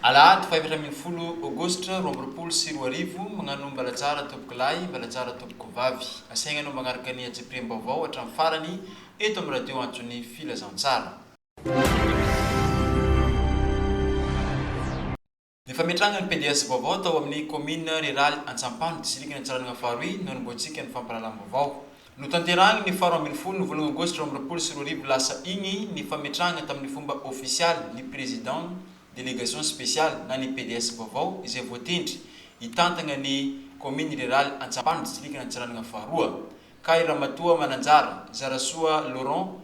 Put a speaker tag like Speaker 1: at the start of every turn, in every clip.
Speaker 1: Alahady fahefatra ambin'ny folo Aogositra roa amby roapolo sy roa arivo, Magnano Mbalatsara tompoko lahy, Mbalatsara tompoko vavy. Asaigna anao magnaraka ny antsipiriam-baovao hatramin'ny farany eto amin'ny Radio Antso ny Filazantsara. Ny fametrangan'ny PDS vaovao tao amin'ny kaominina riraly Antsampano, distrikan' Antsiranana Faharoy no hanombohantsika ny fampahalalam-baovao. Notanterahina ny faharoa ambin'ny folo ny volana aogositra roa amby roapolo sy roa arivo lasa iny ny fametrahana tamin'ny fomba ofisialy ny prezidant delegation speciale na ny PDS vaovao izay voatendry hitantagna ny kaominy riraly Antsampano, distrikan' Antsiranana Faharoa, kay Ramatoa Mananjara Zarasoa Laurent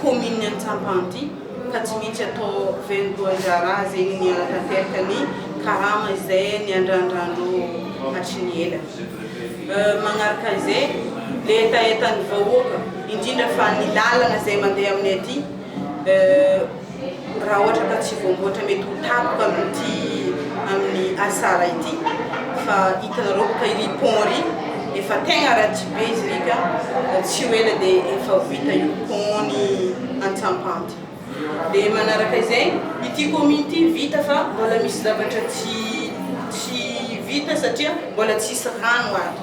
Speaker 2: kaomininy Antsampandihy ka tsy maintsy atao vaindohan-draharaha izay ny hanatanteraka ny karama izay niandrandrandreo hatry ny ela. Manaraka izay, ilay hetahetan'ny vahoaka, indrindra fa ny lalana izay mandeha aminay aty, Raha ohatra ka tsy voamboatra mety ho tampoka amin'ity amin'ny asara ity fa hitanareo boka iry pont iry efa tegna ratsy be izy iry ka tsy ho ela dia efa ho vita io pont ny Antsampandy dia manaraka izay ity commune ity vita fa mbola misy zavatra tsy tsy vita satria mbola tsisy rano ato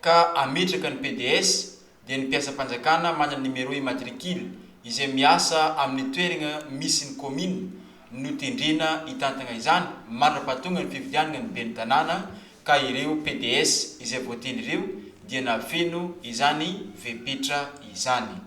Speaker 1: ka hametraka ny PDS dia ny mpiasam-panjakana manana numéro immatricule izay miasa amin'ny toeragna misy ny kaominina no tendrena hitantagna izany mandra-pahatonga ny fifidianagna ny ben'ny tanàna ka ireo PDS izay voatendry ireo dia nahafeno izany fepetra izany.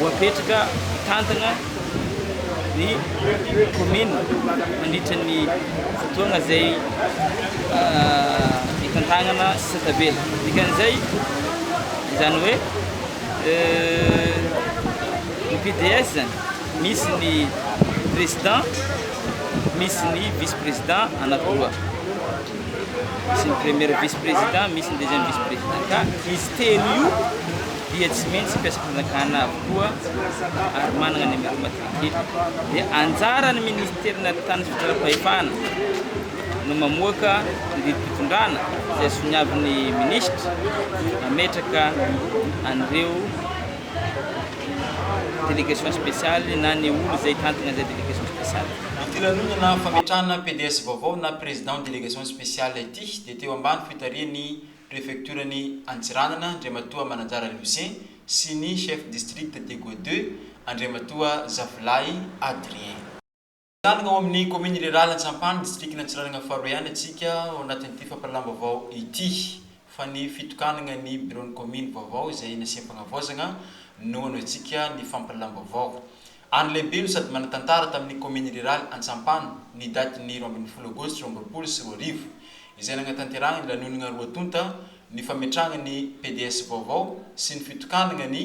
Speaker 3: Voapetraka hitantana ny kaominina mandritra ny fotoana izay itantanana sisa tavela. Dikan'izay, izany hoe ny PDS zany misy ny président, misy ny vice-président anakiroa. sy ny premier vice président misy ny deuxième vice président ka izy telo io dia tsy maintsy mpiasa fanjakana avokoa ary manana numéro matricule dia anjaran'ny ministère na tany fitsaram-pahefana no mamoaka ny didim-pitondrana izay soniavin'ny ministra mametraka an'ireo délégation spéciale na ny olo izay tantina izay délégation spéciale. Ity lanonana
Speaker 1: fametrahana PDS vaovao na président délégation spéciale ity dia teo ambany fitarihan'ny préfecture-n'i Antsiranana Andriamatoa Mananjara Lucien sy ny chef district Deggo deux Andriamatoa Zafilahy Adrien. Mijanona ao amin'ny kaominina Iliraly Antsampany, distrikan'i Antsiranana faharoa ihany antsika ao anatin'ity fampahalalam-baovao ity fa ny fitokanana ny biraon'ny kaominy vaovao izay nasiam-panavaozana no hanao antsika ny fampahalalam-baovao. Andro lehibe no sady manan-tantara tamin'ny kaominina Iliraly Antsampany ny datin'ny roa ambin'ny folo aogositra roa amby roapolo sy roa arivo izay nanatanterahana ny lanonana roa tonta ny fametrahana ny PDS vaovao sy ny fitokanana ny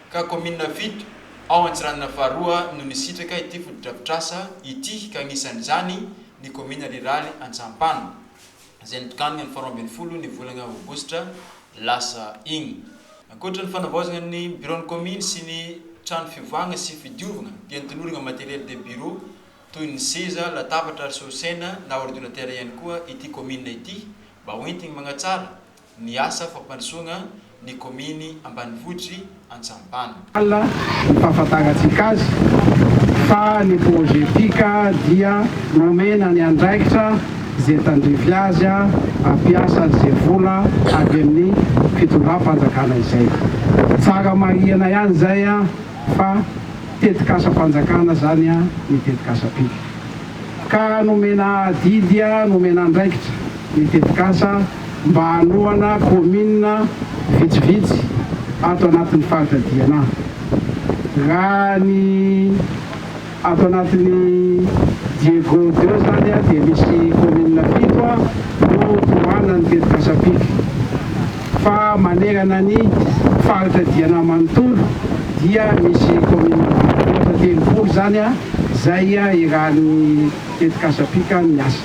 Speaker 1: ka kaominina fito ao Antsiranana faharoa no nisitraka ity fotodrafitrasa ity ka anisan'izany ny kaominina riraly Antsahampano izay notokanina ny faharoa ambin'ny folo ny volana aogositra lasa iny. Ankoatra ny fanavaozana ny biraon'ny kaominy sy ny trano fiovana sy fidiovana dia notolorana matériel de bureau toy ny seza, latabatra ary solosaina na ordinateur ihany koa ity kaominina ity mba hoentiny manatsara ny asa fampandrosoagna ny kaominy ambanivohitry Antsampana. Al
Speaker 4: impahafantarantsika azy fa ny projet Pika dia nomena ny andraikitra ze tandrify azy ampiasa ze vola avy amin'ny fitondram-panjakana izay. Tsara marihana ihany zay fa tetikasam-panjakana zany ny tetikasa Pika ka nomena adidy nomena andraikitra ny tetikasa. mba hanohana kaominina vitsivitsy ato anatin'ny faritra Diana. Raha ny ato anatin'i Diego Deo izany dia misy kaominina fito no tohanan'ny tetikasa-pika fa manerana ny faritra Diana manontolo dia misy kaominina mihoatra telopolo izany izay iarahan'ny tetikasa-pika miasa.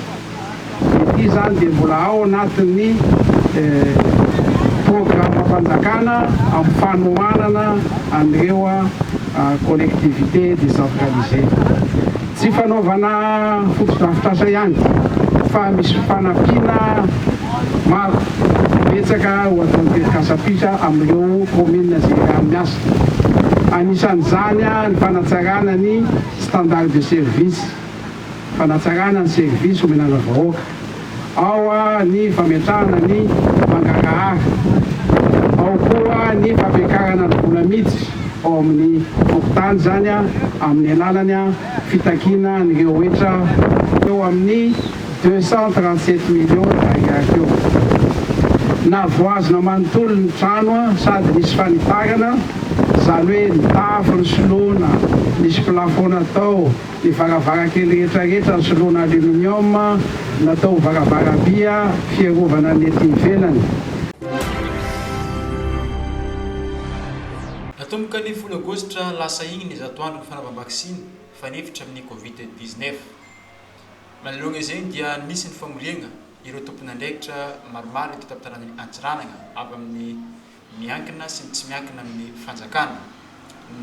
Speaker 4: Ity izany dia mbola ao anatin'ny programam-panjakana amin'ny fanohanana an'ireo collectivités décentralisées. Tsy fanaovana fotodrafitrasa ihany fa misy fanampiana maro betsaka ho ataon'ny tetikasam-pisa amin'ireo kaominina izay eran'ny miasa. Anisan'izany ny fanatsarana ny standard de service. fanatsarana ny servisy omenana vahoaka. Ao ny fametrahana ny mangarahara. Ao koa ny fampiakarana ny vola miditra ao amin'ny fokontany, izany amin'ny alalan'ny fitakiana an'ireo hetra teo amin'ny deux cent trente sept millions d'ariary teo. Navoazina manontolo ny trano sady nisy fanitarana, izany hoe ny tafo nisoloana, nisy plafond natao, Ny varavarankely rehetra rehetra nosoloana aluminium natao ho varavaraby fiarovana ny ety ivelany.
Speaker 1: Natomboka ny folo aogositra lasa iny ny zato andron'ny fanaovam-baksiny fanefitra amin'ny Covid dix-neuf. Manoloana izay dia nisy ny famoriagna ireo tompon'andraikitra maromaro eto an-tampon-tanànan'i Antsiranana avy amin'ny. miankina sy ny tsy miankina amin'ny fanjakana,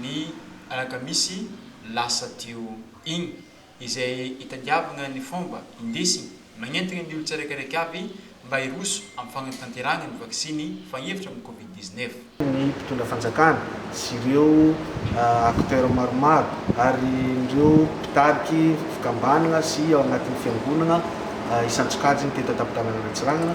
Speaker 1: ny alakamisy lasa teo iny, izay itadiavana ny fomba indesiny, magnentana ny olon-tsiraikaraika avy mba hiroso amin'ny fanatanterahana ny vaksiny fahefatra amin'ny Covid dix-neuf. ny mpitondra
Speaker 5: fanjakana sy ireo acteurs maromaro ary ireo mpitariky fikambanana sy ao anatin'ny fiangonana isan-tsokajiny teto an-tampon-tanànan'Antsiranana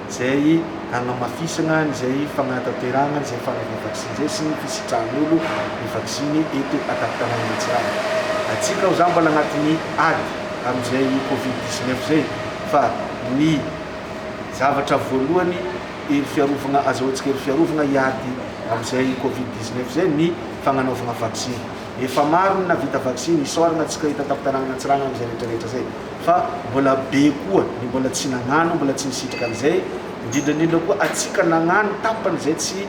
Speaker 5: izay hanamafisana izay fanatanterahana izay fanovana vaksiny izay sy ny fisitrahan'olo ny vaksiny eto an-tampon-tanàna Mantsiranana. Antsika aho zany mbola agnatin'ny ady amin'izay covid dix neuf izay fa ny zavatra voalohany hery fiarovagna azahoantsika hery fiarovagna hiady amin'izay covid dix neuf izay ny fagnanaovagna vaksiny. Efa maro ny nahavita vaksiny, isaoragna antsika eto an-tampon-tanàna Mantsiranana izay rehetrarehetra izay. fa mbola be koa ny mbola tsy nagnano, mbola tsy nisitraka an'izay, indrindra indrindra koa antsika nagnano tapany izay tsy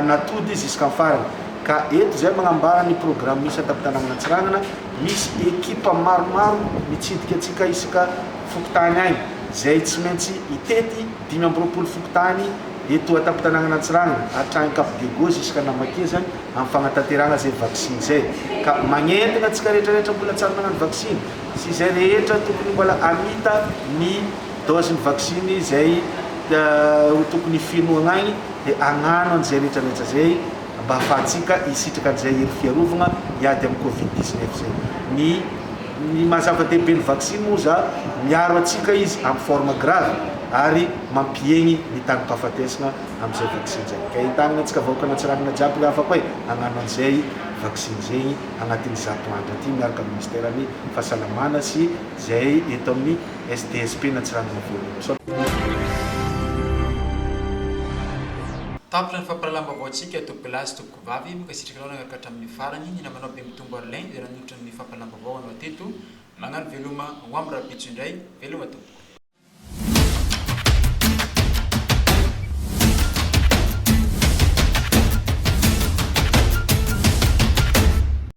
Speaker 5: natody jusqu'en farany, ka eto izay magnambara ny programme misy an-tampon-tanàna Antsiranana, misy ekipa maromaro mitsidika antsika isaka fokontany agny, izay tsy maintsy hitety dimy amby roapolo fokontany eto an-tampon-tanàna Antsiranana, hatrany Cap Diego jusqu'à Namakezany, amin'ny fagnatanterahana izay vaksiny izay, ka magnentana antsika rehetra rehetra mbola tsy ary nagnano vaksiny, sy izay rehetra tokony mbola hamita ny dose ny vaksiny izay ho tokony fenohagna agny dia hagnano an'izay rehetra rehetra izay mba hahafahantsika hisitraka an'izay hery fiarovagna hiady amin'ny covid 19 izay ny ny maha zava-dehibe ny vaksiny moa za miaro antsika izy amin'ny forme grave ary mampihegny ny tagim-pahafatesagna amin'izay vaksiny izay ka entagnina antsika vahoakan'Antsiranana jiaby ny havako e hagnano an'izay vaksiny izay anatin'ny zato andro ity miaraka amin'ny minisiteran'ny Fahasalamana sy izay eto amin'ny SDSP-n'Antsiranana Vohirimoso.
Speaker 1: Tapitra ny fampahalalam-baovaontsika eto Bla sy Tompoko Vavy, mankasitraka anao nanaraka hatramin'ny farany, ny namanao Bemitombo Arlin izay nanolotra ny fampahalalam-baovao anao teto, mañano veloma ho am rahampitso indray, veloma tompoko.